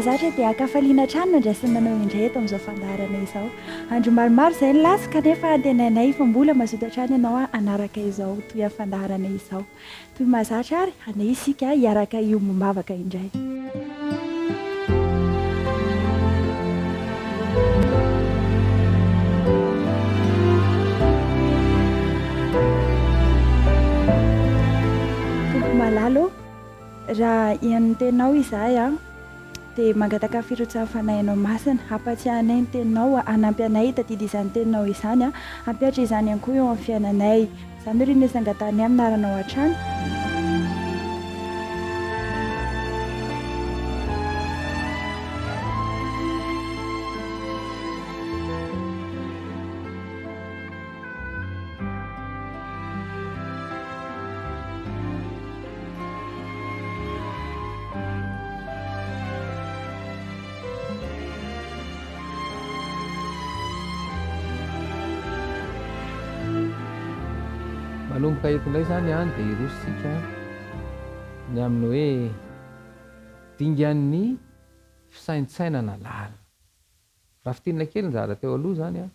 Zatra dia ankafaliana hatrany no andrasany manao indray eto amin'izao fandaharana izao. Andro maromaro izay ny lasa kanefa antenainay fa mbola mazoto hatrany ianao hanaraka izao toy ny fandaharana izao. Toy ny mahazatra ary, handeha isika hiaraka hiombom-bavaka indray. Tompoko malala ô, raha henon'ny tenao izahay an! Dia mangataka firotsahan'ny Fanahinao Masina, hampatsiahy anay ny Teninao, hanampy anay hitadidy izany Teninao izany, hampihatra izany ihany koa eo amin'ny fiainanay. Izany no rinisin'ny angatahinay amin'ny anaranao hatrany. manomboka eto indray izany any dia hirosontsika ny amin'ny hoe dingan'ny fisaintsainana lalina. Raha fintinina kely ny zavatra teo aloha izany an,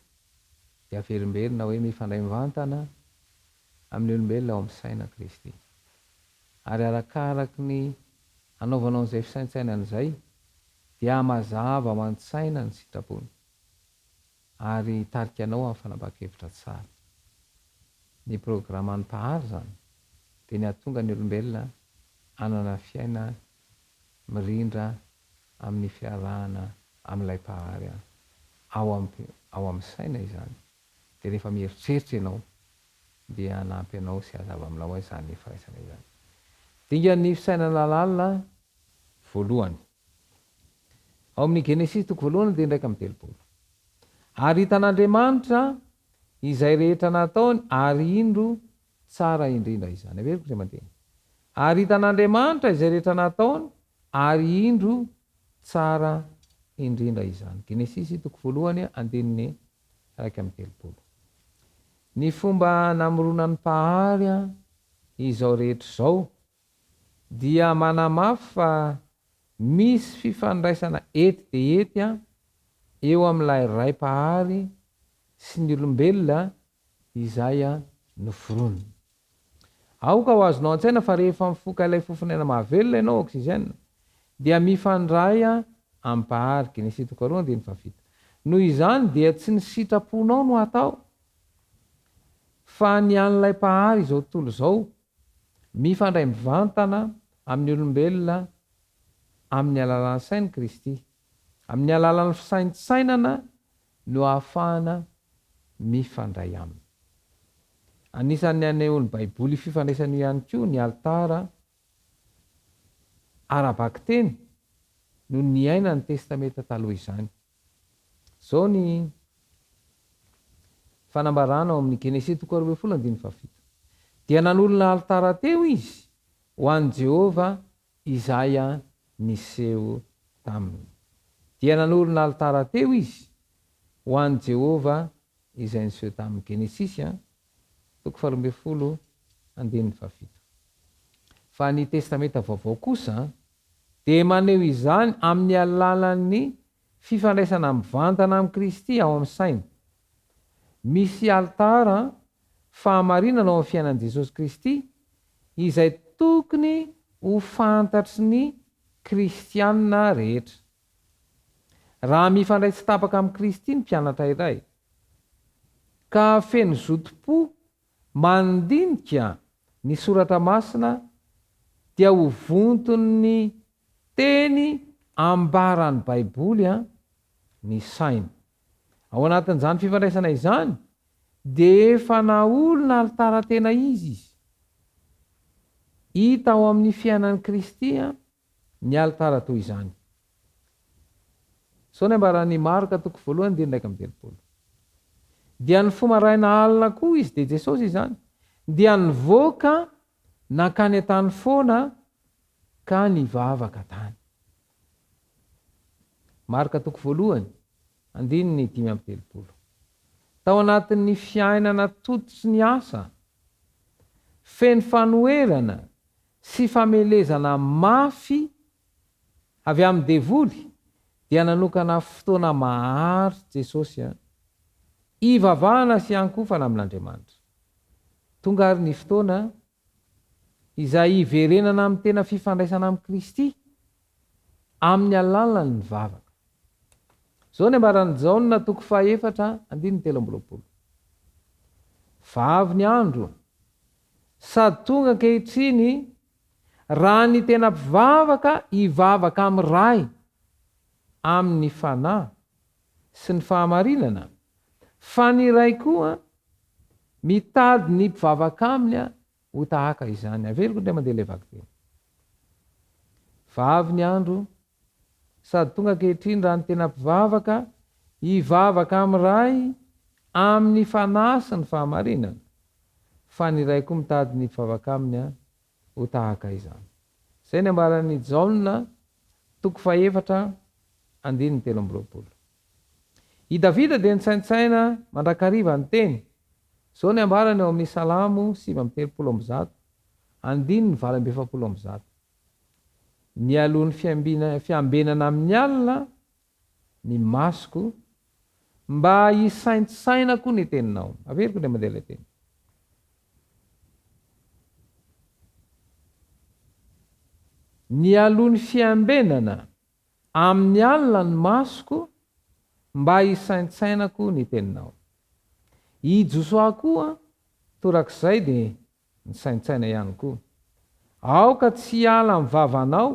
dia averimberina hoe mifandray mivantana amin'ny olombelona ao amin'ny saina Kristy. Ary arakaraky ny hanaovanao an'izay fisaintsainana izay, dia hamazava ao an-tsaina ny sitrapony, ary hitarika anao amin'ny fanapahan-kevitra tsara. Ny programan'ny Mpahary izany dia ny hahatonga ny olombelona hanana fiaina mirindra amin'ny fiarahana amin'ilay Mpahary ahy. Ao ampy ao amin'ny saina izany. Dia rehefa mieritreritra ianao, dia hanampy anao sy hazava aminao izany firaisana izany. Dingan'ny fisainana lalina voalohany. Ao amin'ny Genesisy toko voalohany andininy iraika amby telopolo. Ary hitan'Andriamanitra izay rehetra nataony, ary indro, Tsara indrindra izany. Averiko izay mandeha. Ary hitan'Andriamanitra izay rehetra nataony, ary indro, tsara indrindra izany. Genesisy, toko voalohany, andininy iraika amby telopolo. Ny fomba namoronan'ny Mpahary izao rehetra izao dia manamafy fa misy fifandraisana ety dia ety eo amin'ilay Ray Mpahary sy ny olombelona Izay no forono. Aoka ho azonao an-tsaina fa rehefa mifoka ilay fofon'aina mahavelona ianao, oxygène, dia mifandray amim-pahary, Genesy toko faharoa andininy fahafito. Noho izany dia tsy ny sitraponao no atao fa ny an'ilay Mpahary izao tontolo izao, mifandray mivantana amin'ny olombelona amin'ny alalan'ny sain'i Kristy. Amin'ny alalan'ny fisaintsainana no ahafahana mifandray aminy. Anisan'ny anehoan'ny Baiboly io fifandraisana io ihany koa ny alitara ara-bakiteny no niainan'ny Testamenta Taloha izany. Izao ny fanambarana ao amin'ny Genesisy toko roa ambin'ny folo andininy fahafito, Dia nanolona alitara teo izy ho an'i Jehovah Izaia niseho taminy. Dia nanorina alitara teo izy ho an'i Jehovah izay niseho taminy. Genesisy a, toko faharoa ambin'ny folo, andininy fahafito. Fa ny Testamenta Vaovao kosa dia maneho izany amin'ny alalan'ny fifandraisana mivantana amin'i Kristy ao amin'ny saina Misy alitara fahamarinana ao amin'ny fiainan'i Jesosy Kristy izay tokony ho fantatry ny kristiana rehetra. Raha mifandray tsy tapaka amin'i Kristy ny mpianatra iray, ka feno zotom-po mandinika ny soratra masina, dia ho vonton'ny teny ambaran'ny Baiboly ny sainy. Ao anatin'izany fifandraisana izany dia efa naolona alitara tena izy izy. Hita ao amin'ny fiainan'i Kristy ny alitara toy izany. Izao ny ambaran'i Marka toko voalohany andininy iraika amby telopolo. Dia ny fo maraina alina koa izy dia Jesosy izany dia nivoaka nankany an-tany foana ka nivavaka tany. Marka toko voalohany, andininy dimy amby telopolo. Tao anatin'ny fiainana toto sy ny asa feno fanoherana sy famelezana mafy avy amin'ny devoly dia nanokana fotoana maharitra Jesosy hivavahana sy hiankofana amin'Andriamanitra. Tonga ary ny fotoana izay hiverenana amin'ny tena fifandraisana amin'i Kristy amin'ny alalan'ny vavaka. Izao ny ambaran'i Jaona toko fahefatra andininy telo amby roapolo, Fa avy ny andro, sady tonga ankehitriny, raha ny tena mpivavaka hivavaka amin'ny Ray amin'ny fanahy sy ny fahamarinana, fa ny Ray koa Mitady ny mpivavaka aminy ho tahaka izany. Averiko indray mandeha ilay vakiteny. Fa avy ny andro, sady tonga ankehitriny, raha ny tena mpivavaka hivavaka amin'ny Ray amin'ny fanahy sy ny fahamarinana, fa ny Ray koa mitady ny mpivavaka aminy ho tahaka izany. Izay ny ambaran'i Jaona, toko fahefatra, andininy telo amby roapolo. I Davida dia nitsaintsaina mandrakariva niteny, izao ny ambarany ao amin'ny Salamo sivy amby telopolo amby zato, andininy valo amby efapolo amby zato, Mialoha ny fiambina, fiambenana amin'ny alina ny masoko, mba hisaintsainako ny teninao. Averiko indray mandeha ilay teny. Mialoha ny fiambenana Amin'ny alina ny masoko mba hisaintsainako ny teninao. I Josoa koa torak'izay dia nisaintsaina ihany koa. Aoka tsy hiala amin'ny vavanao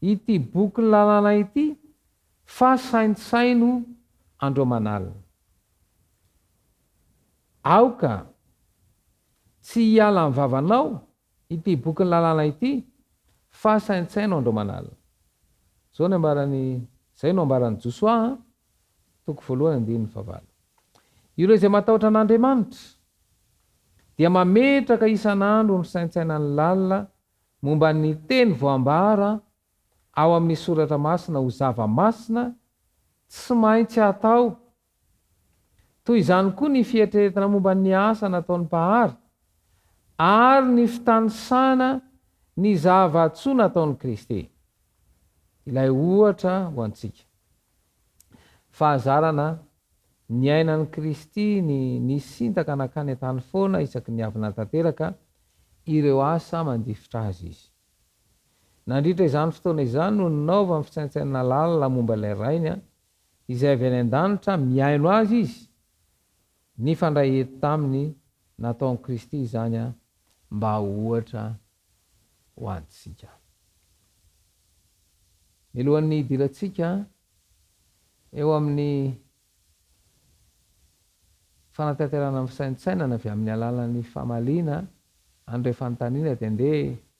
ity bokin'ny lalàna ity fa saintsaino andro aman'alina. Aoka tsy hiala amin'ny vavanao Ity bokin'ny lalàna ity fa saintsaino andro aman'alina. Izao ny ambaran'i Izay no ambaran'i Josoa an, toko voalohany andininy fahavalo. Ireo izay matahotra an'Andriamanitra dia mametraka isan'andro ny saintsainany lalina momba ny teny voambara ao amin'ny soratra masina ho zava-masina tsy maintsy atao Toy izany koa ny fieritreretana momba ny asa nataon'ny Mpahary ary ny fitanisana ny zava-tsoa nataon'i Kristy. Ilay ohatra ho antsika. Fahazarana niainan'i Kristy ny nisintaka nankany an-tany foana isaky ny avy nahatanteraka ireo asa mandifotra Azy Izy. Nandritra izany fotoana izany no ninaovany fisaintsainana lalina momba ilay Rainy Izay avy any an-danitra mihaino azy izy, nifandray eto taminy nataon'i Kristy izany mba ho ohatra ho antsika. Milohan'ny hidirantsika eo amin'ny fanatanterahana ny fisaintsainana avy amin'ny alalan'ny famaliana an'ireo fanontaniana dia andeha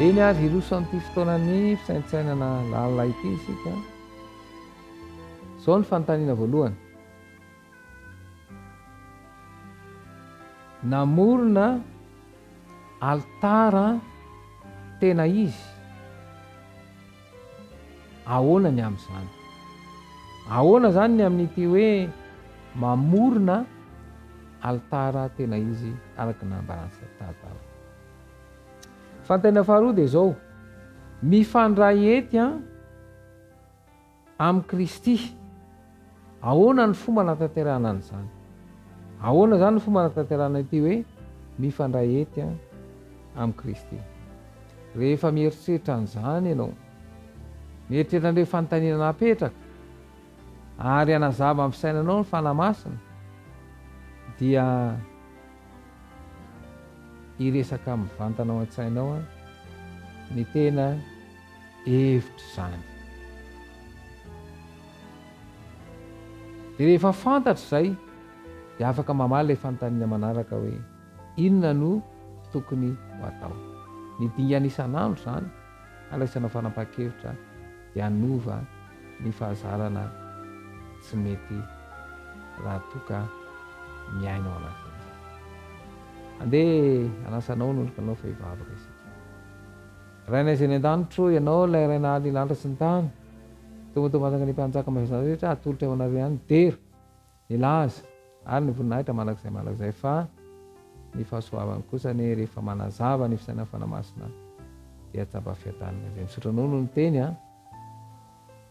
Eny ary, hirosoan'ity fotoanan'ny fisaintsainana lalina ity isika. Izao ny fanontaniana voalohany. Namorona alitara tena izy. Ahoana ny amin'izany? Ahoana izany ny amin'ity hoe mamorona alitara tena izy araka ny nambaran'i Satata? Fanontaniana faharoa dia izao, mifandray ety an, amin'i Kristy. Ahoana ny fomba hanatanterahana an'izany? Ahoana izany no fomba hanatanterahana ity hoe mifandray hety amin'i Kristy? Rehefa mieritreritra an'izany ianao, mieritreritra an'ireo fanontaniana napetraka, ary hanazava amin'ny fisainanao ny Fanahy Masina, dia hiresaka mivantana ao an-tsainao ny tena hevitra izany. Dia rehefa fantatra izay dia afaka mamaly ilay fanontaniana manaraka hoe inona no tokony ho atao. Ny dingana isan'andro izany handraisana fanapahan-kevitra dia hanova ny fahazarana tsy mety raha toa ka miaina ao anatin'izay. Andeha hanasa anao ny olokanao fa hivavaka isika. Rainay izay any an-danitra ô, Ianao ilay Ray nahaly ny lanitra sy ny tany. Tonga eto mantsaka ny Mpanjaka maivana rehetra hatolotra eo anareo ihany ny dera, ny laza ary ny voninahitra mandrakizay mandrakizay fa ny fahasoavany kosa anie rehefa manazava ny fisainan'ny Fanahy Masina dia tsaba fiadanana izay. Misaotra anao noho ny teny a.